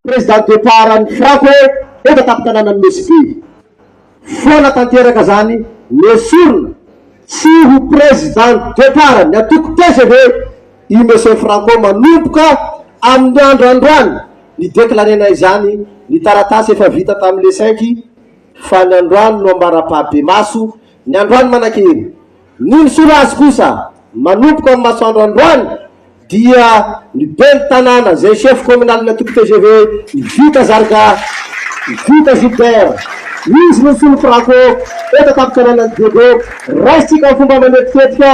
Président départ an'i Franck hoe efa tampon-tananan'i Messiby. Foana tanteraka izany nesorina tsy ho Président départ ny antoko tgv i Monsieur Franco manomboka amin'ny andro androany ni-déclarer-na izany ny taratasy efa vita tamin'ny le cinq fa ny androany no ambara-paham-pemaso ny androany manankery Ny misorazy kosa manomboka amin'ny masoandro androany dia ny ben'ny tanàna izay chef communal-ny antoko tgv i Vita Zarga, Vita Gilbert. Izy no solon'ny Fraco eto an-tampon-tanànan'i Diego. Raisintsika amin'ny fomba manetiketika,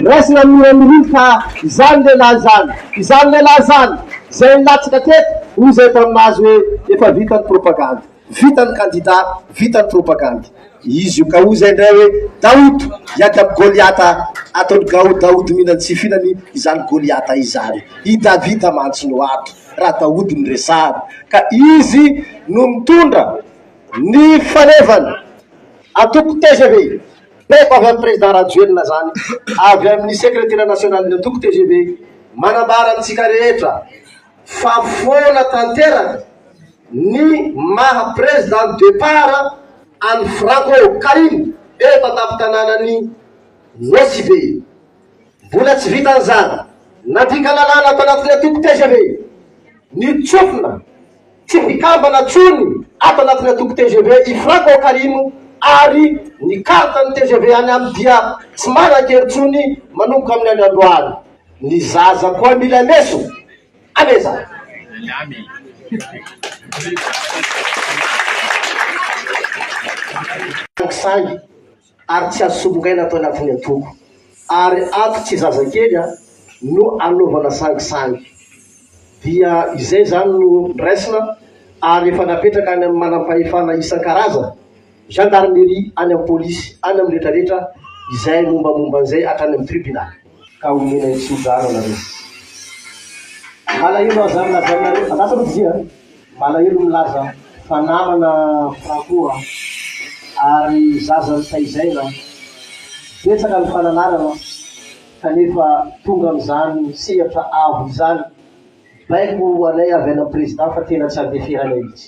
raisina amin'ny hira mirindra fa izany lehilahy izany, izany lehilahy izany izay nilatsaka teto hoy izay efa mahazo hoe efa vita ny propagandy. Vita ny kandida, vita ny propagandy. Izy io Gaou izay indray hoe Daoud hiady amin'i Goliata, ataon'i Gaou Daoud mila ny tsy hifinany izany Goliata izany. I Davida mantsy no ato raha Daoud no resahana ka izy no nitondra ny fanevana. Antoko tgv, baiko avy amin'i Président Rajoelina izany, avy amin'ny Secretera Nationalin'ny Antoko tgv, manambara amintsika rehetra, Fa foana tanteraka ny maha président de départ an'i Franco Karim eto an-tampon-tanànan'i Nosy Be. Mbola tsy vitan'izany, nandika lalàna ato anatin'ny antoko tgv ny tsofina tsy mpikambana intsony ato anatin'ny antoko tgv i Franco Karim ary ny carte-n'ny tgv any aminy dia tsy manan-kery intsony manomboka amin'ny andro androany. Ny zaza koa mila lesona. Amen zany. Thanks saingy ary tsy azo solongaina atao ny antony antoko ary ato tsy zazakely a no anaovana sangy sangy dia izay zany no nraisina ary efa napetraka any amin'ny manam-pahefana isan-karazany Gendarmerie any amin'ny polisy any amin'ny retraretra izay mombamomba an'izay hatrany amin'ny tribunaly. Ka omena ny tso-drano anareo. Malahelo aza ny lazainareo, andraso aloha Didie a! malahelo milaza fa namana Franco a! ary zaza notaizaina, betsaka ny fananarana kanefa tonga amin'izany sehatra avo izany, baiko ho anay avy any amin'ny président fa tena tsy andeferanay mihitsy.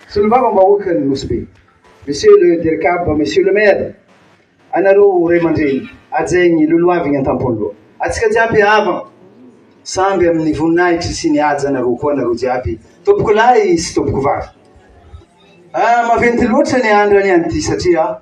Solombavambahoakan'ny Nosy Be, Monsieur le Dircab, Monsieur le Maire, anareo ho ray aman-dreny, hajain'ny lolohaviny an-tampon'ny loha. Atsika jiaby havana, samby amin'ny voninahitry sy ny haja anareo koa anareo jiaby tompoko lahy sy tompoko vavy. Ah, maventy loatra ny andra ny an'ity satria.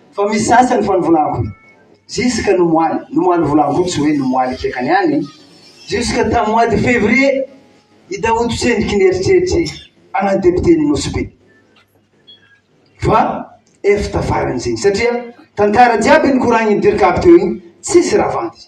Fa misy sasany fa ny volako jusque ny moaly, ny moaly volako tsy hoe ny moaly kiakany any, jusque tam mois de février i Daoud tsendriky ny eritreritry ana député ny Nosy Be. Fa ef tafaran'izegny satria tantara jiaby nikoragniny Dircab teo igny tsisy raha vandy.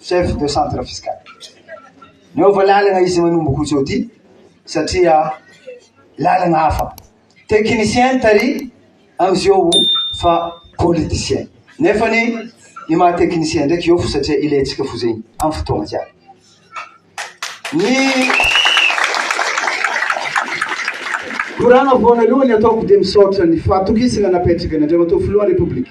Chef de centre fiscal. Niova lalana izy manomboka jeudi satria lalana hafa. Technicien tary amizeo fa politicien. Nefa ny ny maha technicien ndraiky eo fo satria ilaintsika fo zegny am fotoagna jiaby. Ny koragna voanalohany ataoko de misaotra ny fahatokisagna napetraky ny Andriamatoa Filohan'ny Repoblika.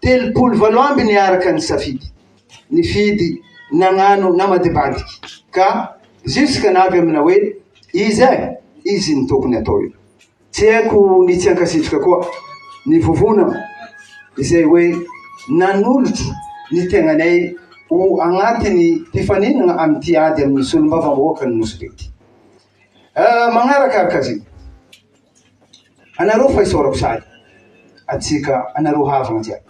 telopolo valo amby niaraka nisafidy, nifidy nagnano namadibadiky ka jusque navy amina hoe izy eh izy ny tokony atao io. Tsy haiko ny tsy hankasitraka koa ny vovona izay hoe nanolotra ny tegnanay ho agnatiny mpifaninagna amin'ity ady amin'ny solombavambahoaka ny Nosy Be ity. Eh, magnarakaraka azy io. Anareo fa isaorako sahady antsika anareo havana jiaby.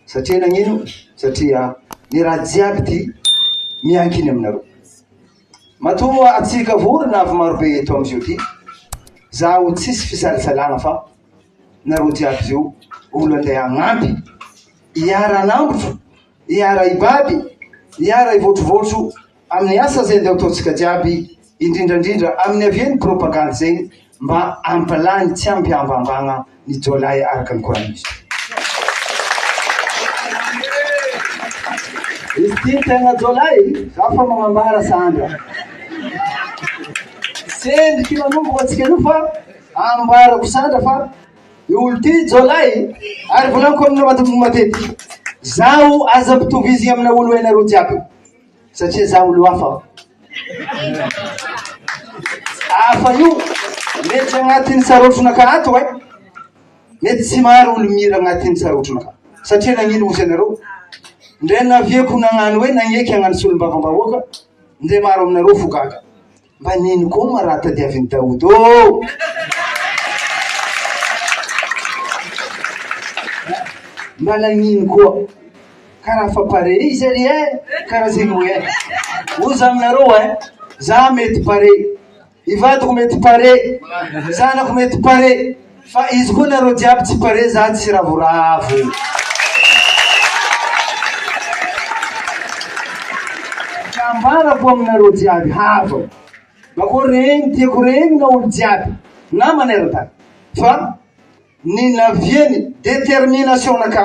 Satria nagnino? Satria ny raha jiaby ty miankina aminareo. Matoa antsika vorona avy marobe eto amizio ty, zaho tsisy fisalasalana fa nareo jiaby zio olo andeha hagnampy, hiara-hanambotro, hiara-hibaby, hiara-hivoatrovoatro. amin'ny asa izay andao ataontsika jiaby indrindrandrindra amin'ny avia ny propagandy izay mba ampilay ny tsy ampy ambambagna ny jiolahy araka ny koranisa izy ty tegna jiolahy za fa magnambara sandra sendriky manomboka antsika anio fa ambarako sandra fa i olo ty jiolahy ary volaniko amina matetiky zaho aza ampitovizigny amina olo hainareo jiaby satria za olo hafa aho hafa io miditra agnatin'ny sarotronaka ato e mety tsy maro olo mira agnatin'ny sarotronaka satria nagnino ozy anareo ndray navieko nagnano hoe nagneky agnano solombavambahoaka ndray maro aminareo fo gaga Mba nino koa moa raha tadiavin'i Daoud ô! Mba nagnino koa? Ka raha fa pare izy ry eh! Karaha zegny hoe eh! Hoy za aminareo eh! Za mety pare, i vadiko mety pare, zanako mety pare. Fa izy koa nareo jiaby tsy pare za tsy ravoravo. Ka ambarako aminareo jiaby havako ba ko reny tiako reny na olo jiaby na manerantany fa ny naviany determination-na ka.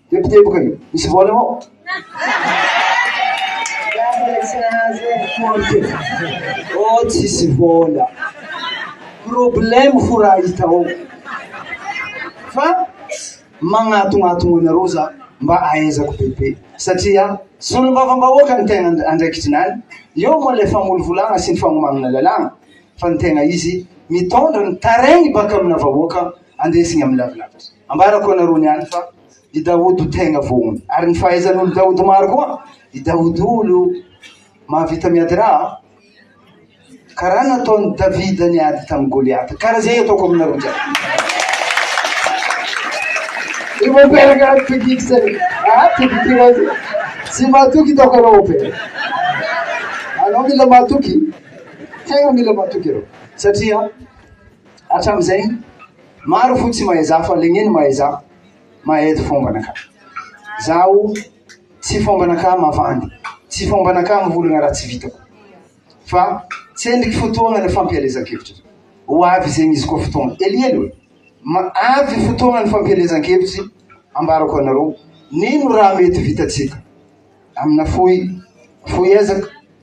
Teboteboka e! Misy vola ao? Oh tsisy vola. Problème fo raha hita ao. Fa magnatognatogno anareo za mba ahaizako bebe satria solombavambahoaka ny tegna andraikitry ny any. Eo moa ilay famolovolagna sy ny fagnomanana lalàna fa ny tegna izy mitondra ny tarehy baka amina vahoaka andesigny amin'ny lavilavitry. Ambarako anareo niany fa i Daodo tegna vohony ary ny fahaizan'olo Daodo maro koa i Daodo olo mahavita miady raha karaha nataon'i Davida niady tamin'i Goliata karaha zay ataoko aminareo jiaby i mopera karaha tibiko zay ah tibiko iray zay tsy matoky taoko anao mopera anao mila matoky tegna mila matoky anao satria hatramin'izay Maro fo tsy mahay za fa legneno mahay za mahay eto fombana ka zaho tsy fombana ka mavandy tsy fombana ka mivolagna raha tsy vitako fa tsendriky fotoagna ny fampielezan-kevitry ho avy zegny izy koa fotoagna helihely oe ma avy fotoagna ny fampielezan-kevitry ambarako anareo nino raha mety vitatsika amina fohy fohy ezaka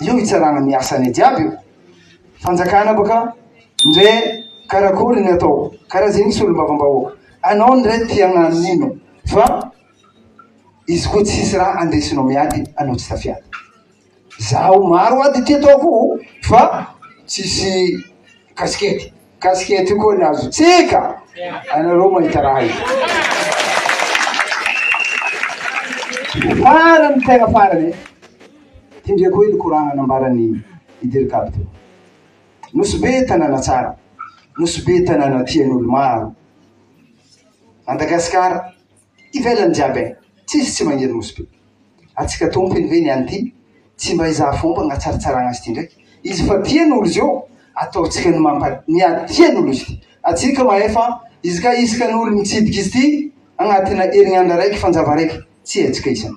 io hitsarana ny asany jiaby io fanjakana baka ndre karakory ny atao karaha zegny solombavambahoaka anao ndre tiagnano nino fa izy koa tsisy raha andesinao miady anao tsy tafiady zaho maro ady ty ataoko fa tsisy kasikety Casquette io koa ny azontsika anareo mahita raha io. Farany tena farany e. Ty ndray koa i Lokorana nambaran'i i Dirikab teo. Nosy be tanàna tsara, nosy be tanàna tian'olo maro. Madagasikara. ivelany jiaby eh tsisy tsy magniry nosy be atsika tompiny ve ny any ty tsy mba izaha fômba agnatsaratsaragna azy ty ndraiky izy fa tiany olo izy eo ataontsika ny mampa ny ady tiany olo izy ty atsika mahefa izy ka isaka ny olo mitsidika izy ty agnatina herinandra raiky fanjava raiky tsy hetsika isany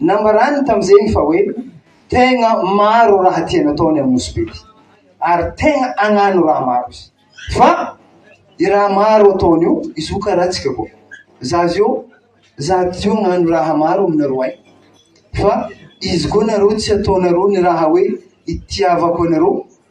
Nambarany tamin'izegny fa hoe tegna maro raha tiany atao ny amin'ny Nosy Be ty ary tegna agnano raha maro izy. Fa i raha maro ataony io, izy io karaha antsika koa. Za zio, za ty agnano raha maro aminareo agny fa izy koa nareo tsy ataonareo ny raha hoe itiavako anareo.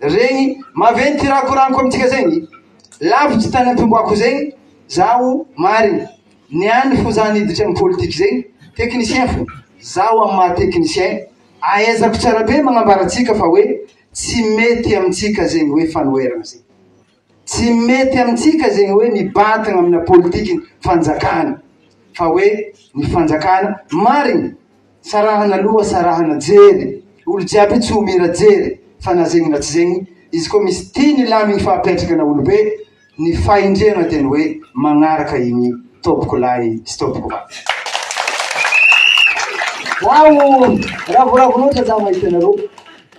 Regny maventy raha koraniko amintsika zegny lavitsy tany am-pimboako zegny zaho marigny niany fo za niditra ny politique zegny technicien fo zaho amin'ny maha technicien ahaizako tsara be magnambara antsika fa hoe tsy mety amintsika zegny hoe fanoherana zegny Tsy mety amintsika zegny hoe mibatagna amina politiky fanjakana fa hoe ny fanjakana marigny sarahana loha sarahana jery olo jiaby tsy omira jery fa na zegny na tsy zegny izy ko misy tia ny lamigny fa apetraka na olo be ny fahendrena de ny hoe magnaraka igny tompoko lahy sy tompoko vavy zaho ravoravo loatra za mahita anareo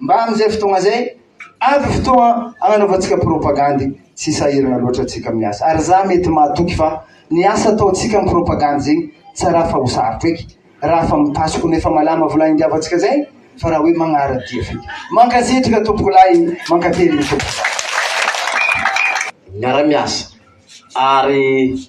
Mba amin'izay fotoagna zay, avy fotoagna agnanaovantsika propagandy, tsy sahiragna loatra antsika amin'ny asa. Ary za mety mahatoky fa ny asa ataontsika amin'ny propagandy zegny, tsy araha fa ho sarotra eky, raha fa mitasoky no efa malama vola hindiavantsika zay, fa raha hoe magnara-dia feky. Mankasitraka tompoko lahy, mankateligny tompoko. Miara-miasa ary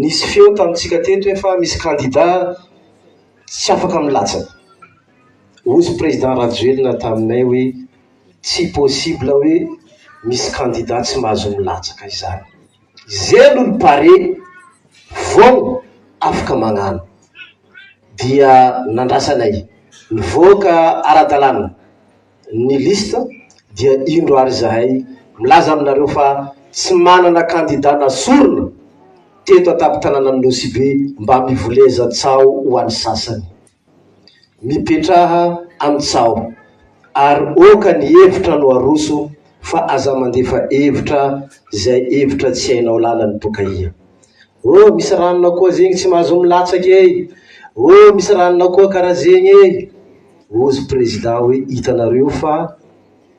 Nisy feo tamintsika teto hoe fa misy kandida tsy afaka milatsaka. Ozy Président Rajoelina taminay hoe tsy possible hoe misy kandida tsy mahazo milatsaka izany. Izay aloha ny pare vao afaka magnano. Dia nandrasanay. Nivoaka ara-dalàna. ny liste dia indro ary izahay milaza aminareo fa tsy manana kandida nasorina teto an-tampon-tananan'i Nosy-Be mba mivoleza tsaho ho an'ny sasany. Mipetraha amin'ny tsaho ary oka ny hevitra no aroso fa aza mandefa hevitra izay hevitra tsy hainao lalany tokaia. Oh misy ranona koa zegny tsy mahazo milatsaka e! Oh misy ranona koa karaha zegny e! Ozy prezida hoe hitanareo fa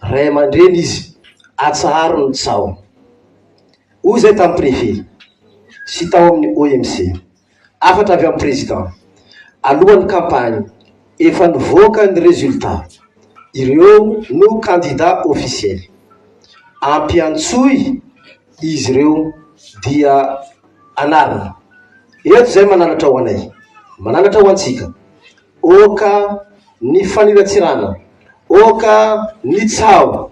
ray aman-dreny izy, atsaharo ny tsaho. Hoy izay tamin'ny prefe sy tao amin'ny OMC. Hafatra avy amin'ny prezida, alohan'ny kampagny, efa nivoaka ny rezilta, ireo no kandida ofisiely. Ampiantsoy izy ireo dia anarina. Eto izay mananatra ho anay, mananatra ho antsika. Ôka ny faniratsirana, ôka ny tsaho,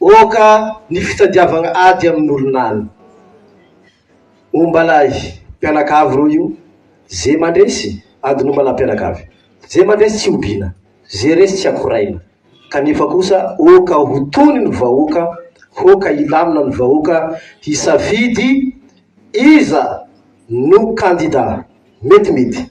ôka ny fitadiavagna ady amin'ny olon'aligny. Ombalahy mpianakavy ireo io, ze mandresy adin'ombalahy mpianakavy, ze mandresy tsy obiana. Ze resy tsy akoraina. Kanefa kosa oka ho tony ny vahoaka, hoka hilamina ny vahoaka hisafidy iza no kandida metimety.